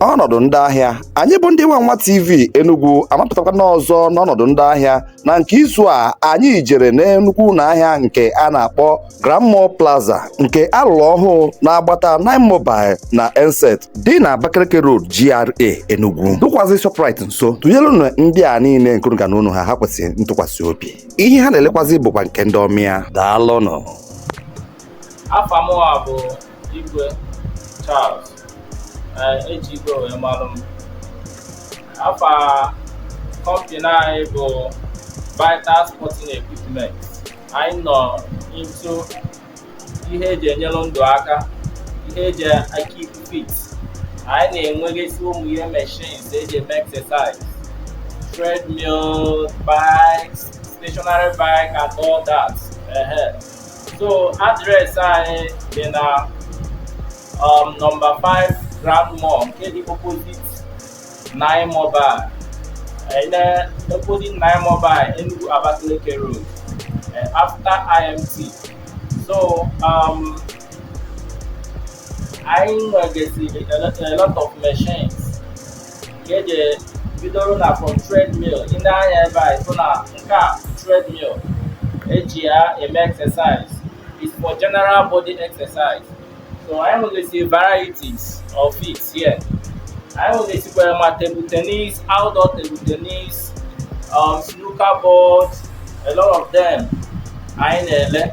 ọnọdụ ndị ahịa anyị bụ ndị Wawa TV enugwu amapụtakwa n'ọzọ n'ọnọdụ ndị ahịa na nke izu a anyị jere n'enugwu na ahịa nke a na-akpọ Grand Mall Plaza nke alụrụ ọhụụ n'agbata Nine Mobile na Enset dị na Abakaliki Road GRA Enugu dụkwazị Shoprite nso tụnyelụnụ ndị a niile nke unu ga-anụ ọnụ ha ha kwesịrị ntụkwasị obi ihe ha na-elekwazị bụkwa nke ndị ọmịa daalụnụ afa mụwa bụ Igwe Charles eji igwe wee malụ m afa kọmpini anyị bụ Vital Sporting Equipment anyị nọ into ihe eji enyere ndụ aka ihe eji keep fit anyị na-enwegasị ụmụ ihe machines eji eme exercise treadmill bikes stationary bike and all that so address anyị dị na um, number 5 Grand Mall nke dị opposite Nine Mobile eh opposite Nine Mobile Enugu Abakaliki Road eh, after IMT so um, anyị nwegasịrị a lot of machines ka eji bidoro na from treadmill ị nee anya ebe a ịfụ na nke a treadmill eji ya eme exercise is for general body exercise so anyị nwegasị varieties of it here anyị nwegasịkwara ma table tennis outdoor table tennis um, snooker board a lot of them anyị na-ele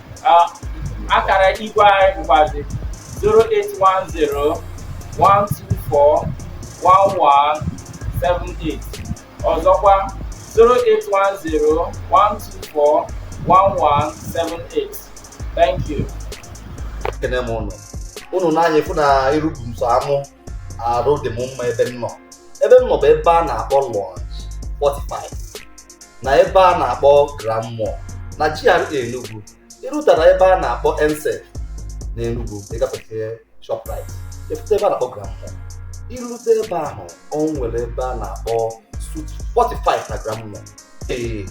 akara igwe anyị bụkwazi 08101241178 ọzọkwa 08101241178 thank you ekene m ụnụ ụnụ nee anya afụ na iru bụ m sọ amụ arụ dị m mma ebe m nọ ebe m nọ bụ ebe a na-akpọ Lounge 45 na ebe a na-akpọ Grand Mall na GRA Enugu irutara ebe a na-akpọ Enset na Enugu ịgafete Shoprite ịpụta ebe a na-akpọ Grand Mall irute ebe ahụ o nwere ebe a na-akpọ Suite 45 na Grand Mall ee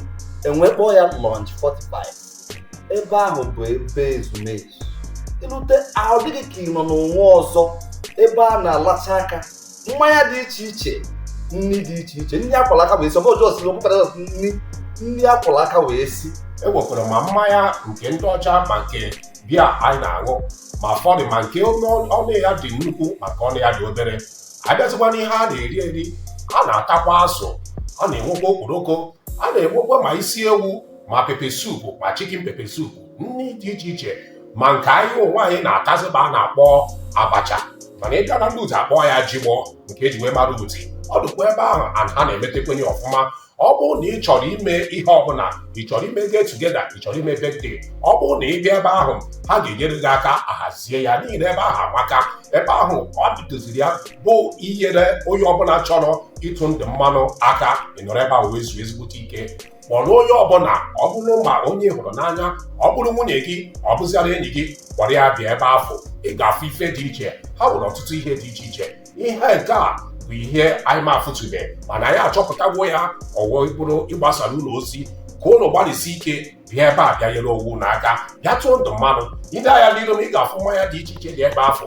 e wee kpọọ ya Lounge 45 ebe ahụ bụ ebe ezumezu ilute ọ dị gị ka ị nọ n'ụwa ọzọ ebe a na-alacha aka mmanya dị iche iche nri dị iche iche nri akwala aka wee si ọ bụ just ọ bụkwara nri ndị akwala aka wee si enwekwara ma mmanya nke ndị ọcha ma nke beer anyị na-aṅụ ma ụfọdụ ma nke ọnụ ya dị nnukwu ma nke ọnụ ya dị obere abịazikwa n'ihe a na-eri eri a na-atakwa azụ a na-enwekwa okporoko a na-enwekwa ma isi ewu ma pepper soup ma chicken pepper soup nri dị iche iche ma nke anyị onwe anyị na-atazịba a na-akpọ abacha mana ịbịa na ndị udi akpọọ ya jigbọ nke eji wee mara udi ọ dịkwa ebe ahụ ha na-emetekwenye ọfụma ọ bụrụ na ị chọrọ ime ihe ọbụla ị chọrọ ime get together ị chọrọ ime birthday ọ bụrụ na ị bịa ebe ahụ ha ga-enyere gị aka ahazie ya n'ihi na ebe ahụ amaka ebe ahụ ọ dịdoziri ya bụ inyere onye ọbụla chọrọ ịtụ ndụ mmanụ aka ịnọrọ ebe ahụ wee zuo ezigbote ike kpọrọ onye ọbụla ọ bụrụ ma onye ị hụrụ n'anya ọ bụrụ nwunye gị ọ bụziara enyi gị kpọrọ ya bịa ebe afụ ị ga-afụ ife dị iche ha nwere ọtụtụ ihe dị iche iche ihe nke a bụ ihe anyị ma afụtụbe mana anyị achọpụtagwo ya o wee bụrụ ịgbasara unu ozi ka unu gbalịsie ike bịa ebe a bịa nyere onwe unu aka bịa tụọ ndụ mmanụ i lee anya n'iru m ị ga-afụ mmanya dị iche iche dị ebe afụ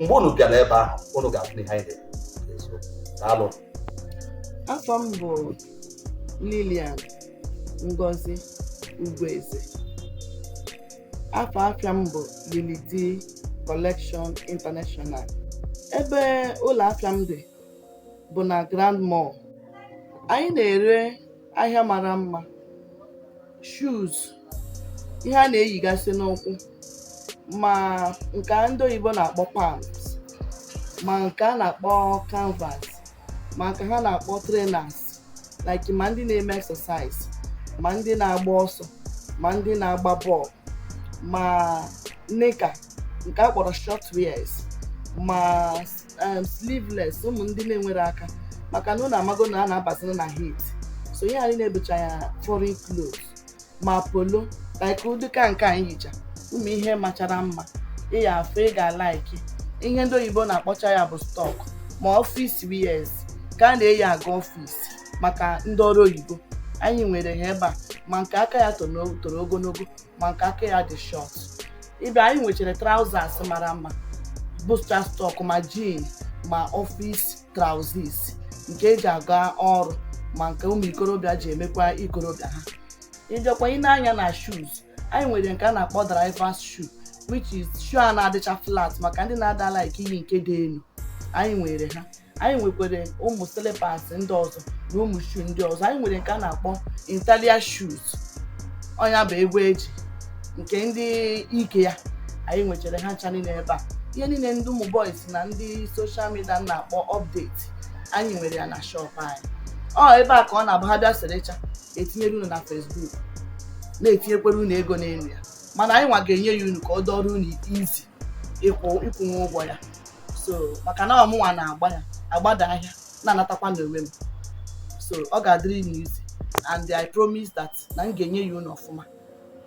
mgbe unu bịara ebe ahụ unu ga-afụ ihe anyị na-ezo daalụ afa m bụ lilian ngozi ugwueze afa afịa m bụ lilidi collection international ebe ụlọ afịa m dị bụ na grand mall anyị na-ere ahịa mara mma shoes ihe a na-eyigasị n'ụkwụ ma nke a ndị oyibo na-akpọ palms ma nke a na-akpọ canvas ma nke ha na-akpọ trainers like ma ndị na-eme exercise ma ndị na-agba ọsọ ma ndị na-agba bọọlụ ma knicker nke a kpọrọ short wears ma um, sleeveless ụmụ ndị na-enwere aka maka na unu amago na a na-abazina na heat so ihe anyị na-ebucha ya foreign clothes ma polo like ụdịka nke anyị yicha ụmụ ihe machara mma ị ya-afụ ị ga-alaiki ihe ndị oyibo na-akpọcha ya bụ stock ma office wears ka a na-eyi aga office maka ndị ọrụ oyibo anyị nwere ha ebe a ma nke aka ya toro ogologo ma nke aka ya dị short ịbịa anyị nwechara trousers mara mma bụcha stock ma jean ma office trousers nke eji aga ọrụ ma nke ụmụ ikorobịa ji emekwa ikorobịa ha ịbịakwa i nee anya na shoes anyị nwere nke a na-akpọ drivers shoe which is shoe a na-adịcha flat maka ndị na-ada like iyi nke dị elu anyị nwere ha anyị nwekwara ụmụ slippers ndị ọzọ na ụmụ shoe ndị ọzọ anyị nwere nke a na-akpọ italian shoes ọ nya bụ egbe eji nke ndị ike ya anyị nwechara ha ncha niile ebe a ihe niile ndị ụmụ boys na ndị social media na-akpọ update anyị nwere ya na shop anyị ọ ebe a ka ọ na-abụ ha bịa serecha etinyere unu na Facebook na-etinyekwere unu ego n'elu ya mana anyị nwa ga-enye ya unu ka ọ dọrọ unu easy ịkwụ ịkwụnwe ụgwọ ya so maka na ọ mụnwa na-agba ya agbada ahịa na-anatakwa n'onwe m so ọ ga-adịrị unu easy and I promise that na m ga-enye ya unu ọfụma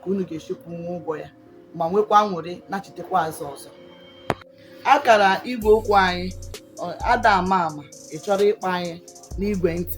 ka unu ga-esi kwụnwe ụgwọ ya ma nwekwa nwere nachitekwa azụ ọzọ akara igwe okwu anyị ada ama ama ị chọrọ ịkpọ anyị n'igwe ntị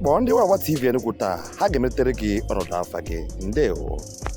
kpọọ ndị Wawa TV Enugu taa ha ga-emetere gị ọnọdụ afa gị ndewo